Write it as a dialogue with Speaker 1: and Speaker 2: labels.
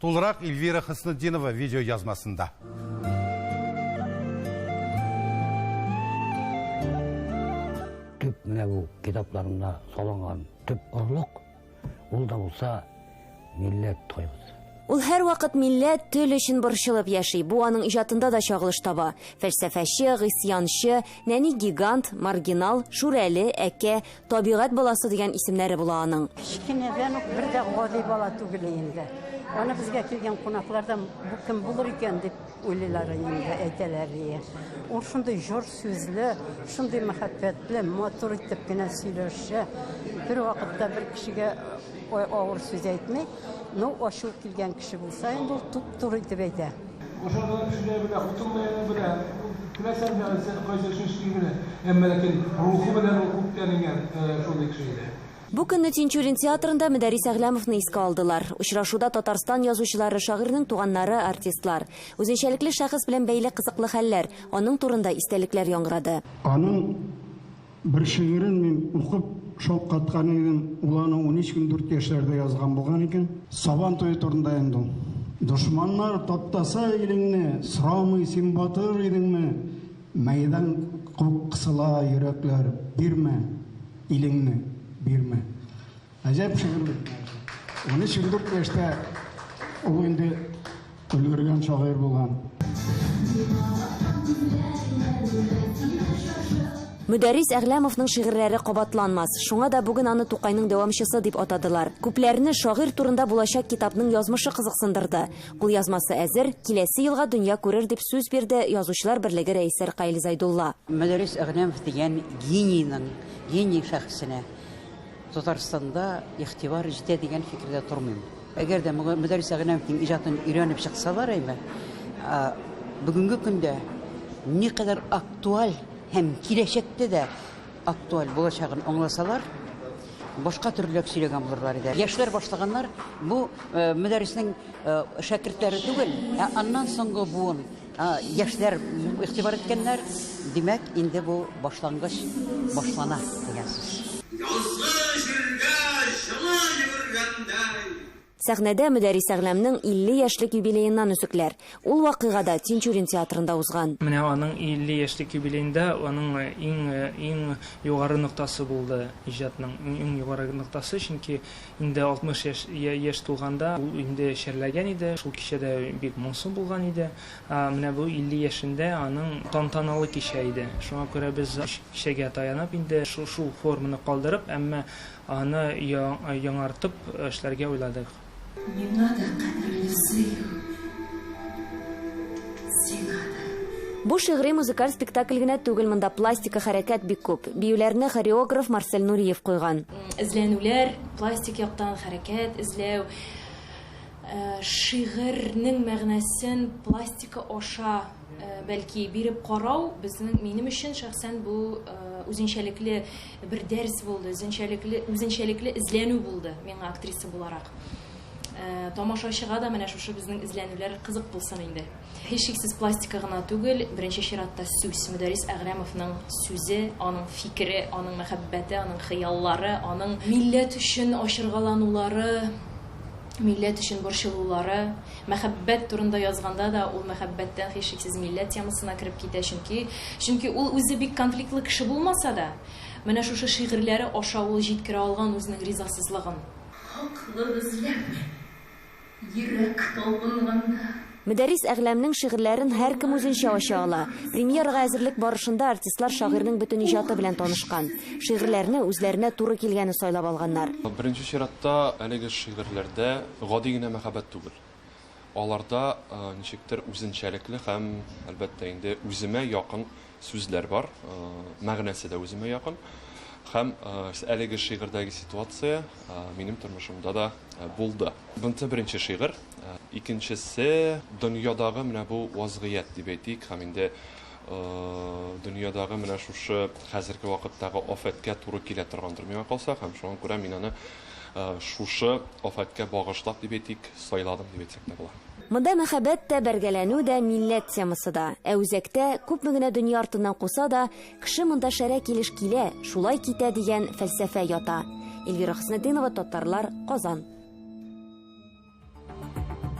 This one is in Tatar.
Speaker 1: Тулырак Ильвира Хөснетдинова видеоязмасында.
Speaker 2: төп менә бу китапларында салынган төп орлык ул да булса милләт тойгысы Ул һәрвакыт
Speaker 3: милләт, тел өчен борчылып яши. Бу аның иҗатында да чагылыш таба. Фәлсәфәче, гыйсъянчы, нәни гигант, маргинал, шүрәле, әкә, Табигать баласы дигән исемнәре була аның. Кечкенәдән үк бер
Speaker 4: дә гади бала түгел инде. Аны безгә килгән кунаклар да бу кем булыр икән дип уйлыйлар инде, әйтәләр ие. Ул шундый җор сүзле, шундый мәхәббәтле, матур итеп кенә сөйләшә. Бер вакытта бер кешегә авыр сүз әйтми, ну ачу килгән кеше булса инде ул туп-туры итеп әйтә.
Speaker 5: Бу көнне Тинчурин
Speaker 3: театрында Мөдәррис Әгъләмовны искә алдылар. Очрашуда Татарстан язучылары, шагыйрьнең туганнары, артистлар. Үзенчәлекле шәхес белән бәйле кызыклы хәлләр, аның турында истәлекләр яңгырады. Аның.
Speaker 6: Бер шигырен мин укып шаккаткан идем, ул аны унөч көн дүрт яшьләрдә язган булган икән. Сабан туе турында инде ул. Дошманнар таптаса илеңне, сорамый син батыр идеңме? Мәйдан кысыла йөрәкләр, бирмә илеңне, бирмә. Әҗәп шигырьлек. 13-14 яшьтә ул инде өлгергән шагыйрь булган.
Speaker 3: Мөдәррис Әгъләмовның шигырьләре кабатланмас. Шуңа да бүген аны Тукайның дәвамчысы дип атадылар. Күпләрне шагыйрь турында булачак китапның язмышы кызыксындырды. Кулъязмасы әзер, киләсе елга дөнья күрер дип сүз бирде Язучылар берлеге рәисе Ркаил Зайдулла. Мөдәррис Әгъләмов
Speaker 4: дигән генийның, гений шәхесенә Татарстанда игътибар җитә дигән фикердә тормыйм. Әгәр дә Мөдәррис Әгънәмовның иҗатын өйрәнеп чыксалар әйбәт. Ә бүгенге көндә никадәр актуаль һәм киләчәктә дә актуаль булачагын аңласалар, башка төрлерәк сөйләгән булырлар иде. Яшьләр башлаганнар, бу Мөдәрриснең шәкертләре түгел, ә аннан соңгы буын. Яшьләр игътибар иткәннәр, димәк, инде бу башлангыч башлана дигән сүз. Язгы җиргә җылы
Speaker 3: йөгергәндәй. Сәхнәдә Мөдәрис Әгъләмнең 50 яшьлек юбилееннан өзекләр. Ул вакыйга да Тинчурин театрында узган. Менә аның 50
Speaker 7: яшьлек юбилеенда аның иң-иң югары ноктасы булды, иҗатның иң югары ноктасы, чөнки Инде 60 яшь яшь тулганда ул инде чәрләгән иде. Шул кичә дә бик моңсу булган иде. Ә менә бу 50 яшендә аның тантаналы кичә иде. Шуңа күрә без кичәгә таянып инде шул форманы калдырып, әмма аны яңартып эшләргә уйладык. Миңа да
Speaker 8: кадерле Сөю,
Speaker 3: сиңа да. Бу шигъри-музыкаль спектакль генә түгел, монда пластика хәрәкәт бик күп. Биюләрне хореограф Марсель Нуриев куйган. Эзләнүләр,
Speaker 8: пластик яктан хәрәкәт эзләү, э, шигырьнең мәгънәсен пластика аша, э, бәлки, биреп карау безнең минем өчен шәхсән бу э, үзенчәлекле бер дәрес булды, үзенчәлекле үзенчәлекле эзләнү булды миңа актриса буларак. Тамашачыга да менә шушы безнең эзләнүләр кызык булсын инде. Һичшиксез пластика гына түгел, беренче чиратта сүз, Мөдәррис Әгърәмовның сүзе, аның фикере, аның мәхәббәте, аның хыяллары, аның милләт өчен ачыргаланулары, милләт өчен борчылулары. Мәхәббәт турында язганда да ул мәхәббәттән һичшиксез милләт темасына кереп китә, чөнки чөнки ул үзе бик конфликтлы кеше булмаса да, менә шушы шигырьләре аша ул җиткерә алган үзенең ризасызлыгын. Хаклыгыз, ләкин
Speaker 3: Йөрәк талпынганда. Мөдәррис Әгъләмнең шигырьләрен һәркем үзенчә ача ала. Премьерага әзерлек барышында артистлар шагыйрьнең бөтен иҗаты белән танышкан. Шигырьләрне үзләренә туры килгәне сайлап алганнар. Беренче чиратта,
Speaker 9: әлеге шигырьләрдә гади генә мәхәббәт түгел. Аларда ничектер үзенчәлекле һәм, әлбәттә инде, үземә якын Сүзләр бар, мәгънәсе дә үземә якын. Һәм әлеге шигырьдәге ситуация минем тормышымда да булды. Бунсы беренче шигырь, икенчесе дөньядагы менә бу вазгыять дип әйтик, һәм инде дөньядагы менә шушы хәзерге вакыттагы афәткә туры килә торгандыр миңа калса, һәм шуңа күрә мин аны шушы афәткә багышлап дип әйтик, сайладым дип әйтсәк тә була. Монда мәхәббәт
Speaker 3: тә, бәргәләнү дә, милләт темасы да. Ә үзәктә, күпме генә дөнья артыннан куса да, кеше монда шәрә килеш килә, шулай китә дигән фәлсәфә ята. Эльвира Хөснетдинова, Татарлар, Казан.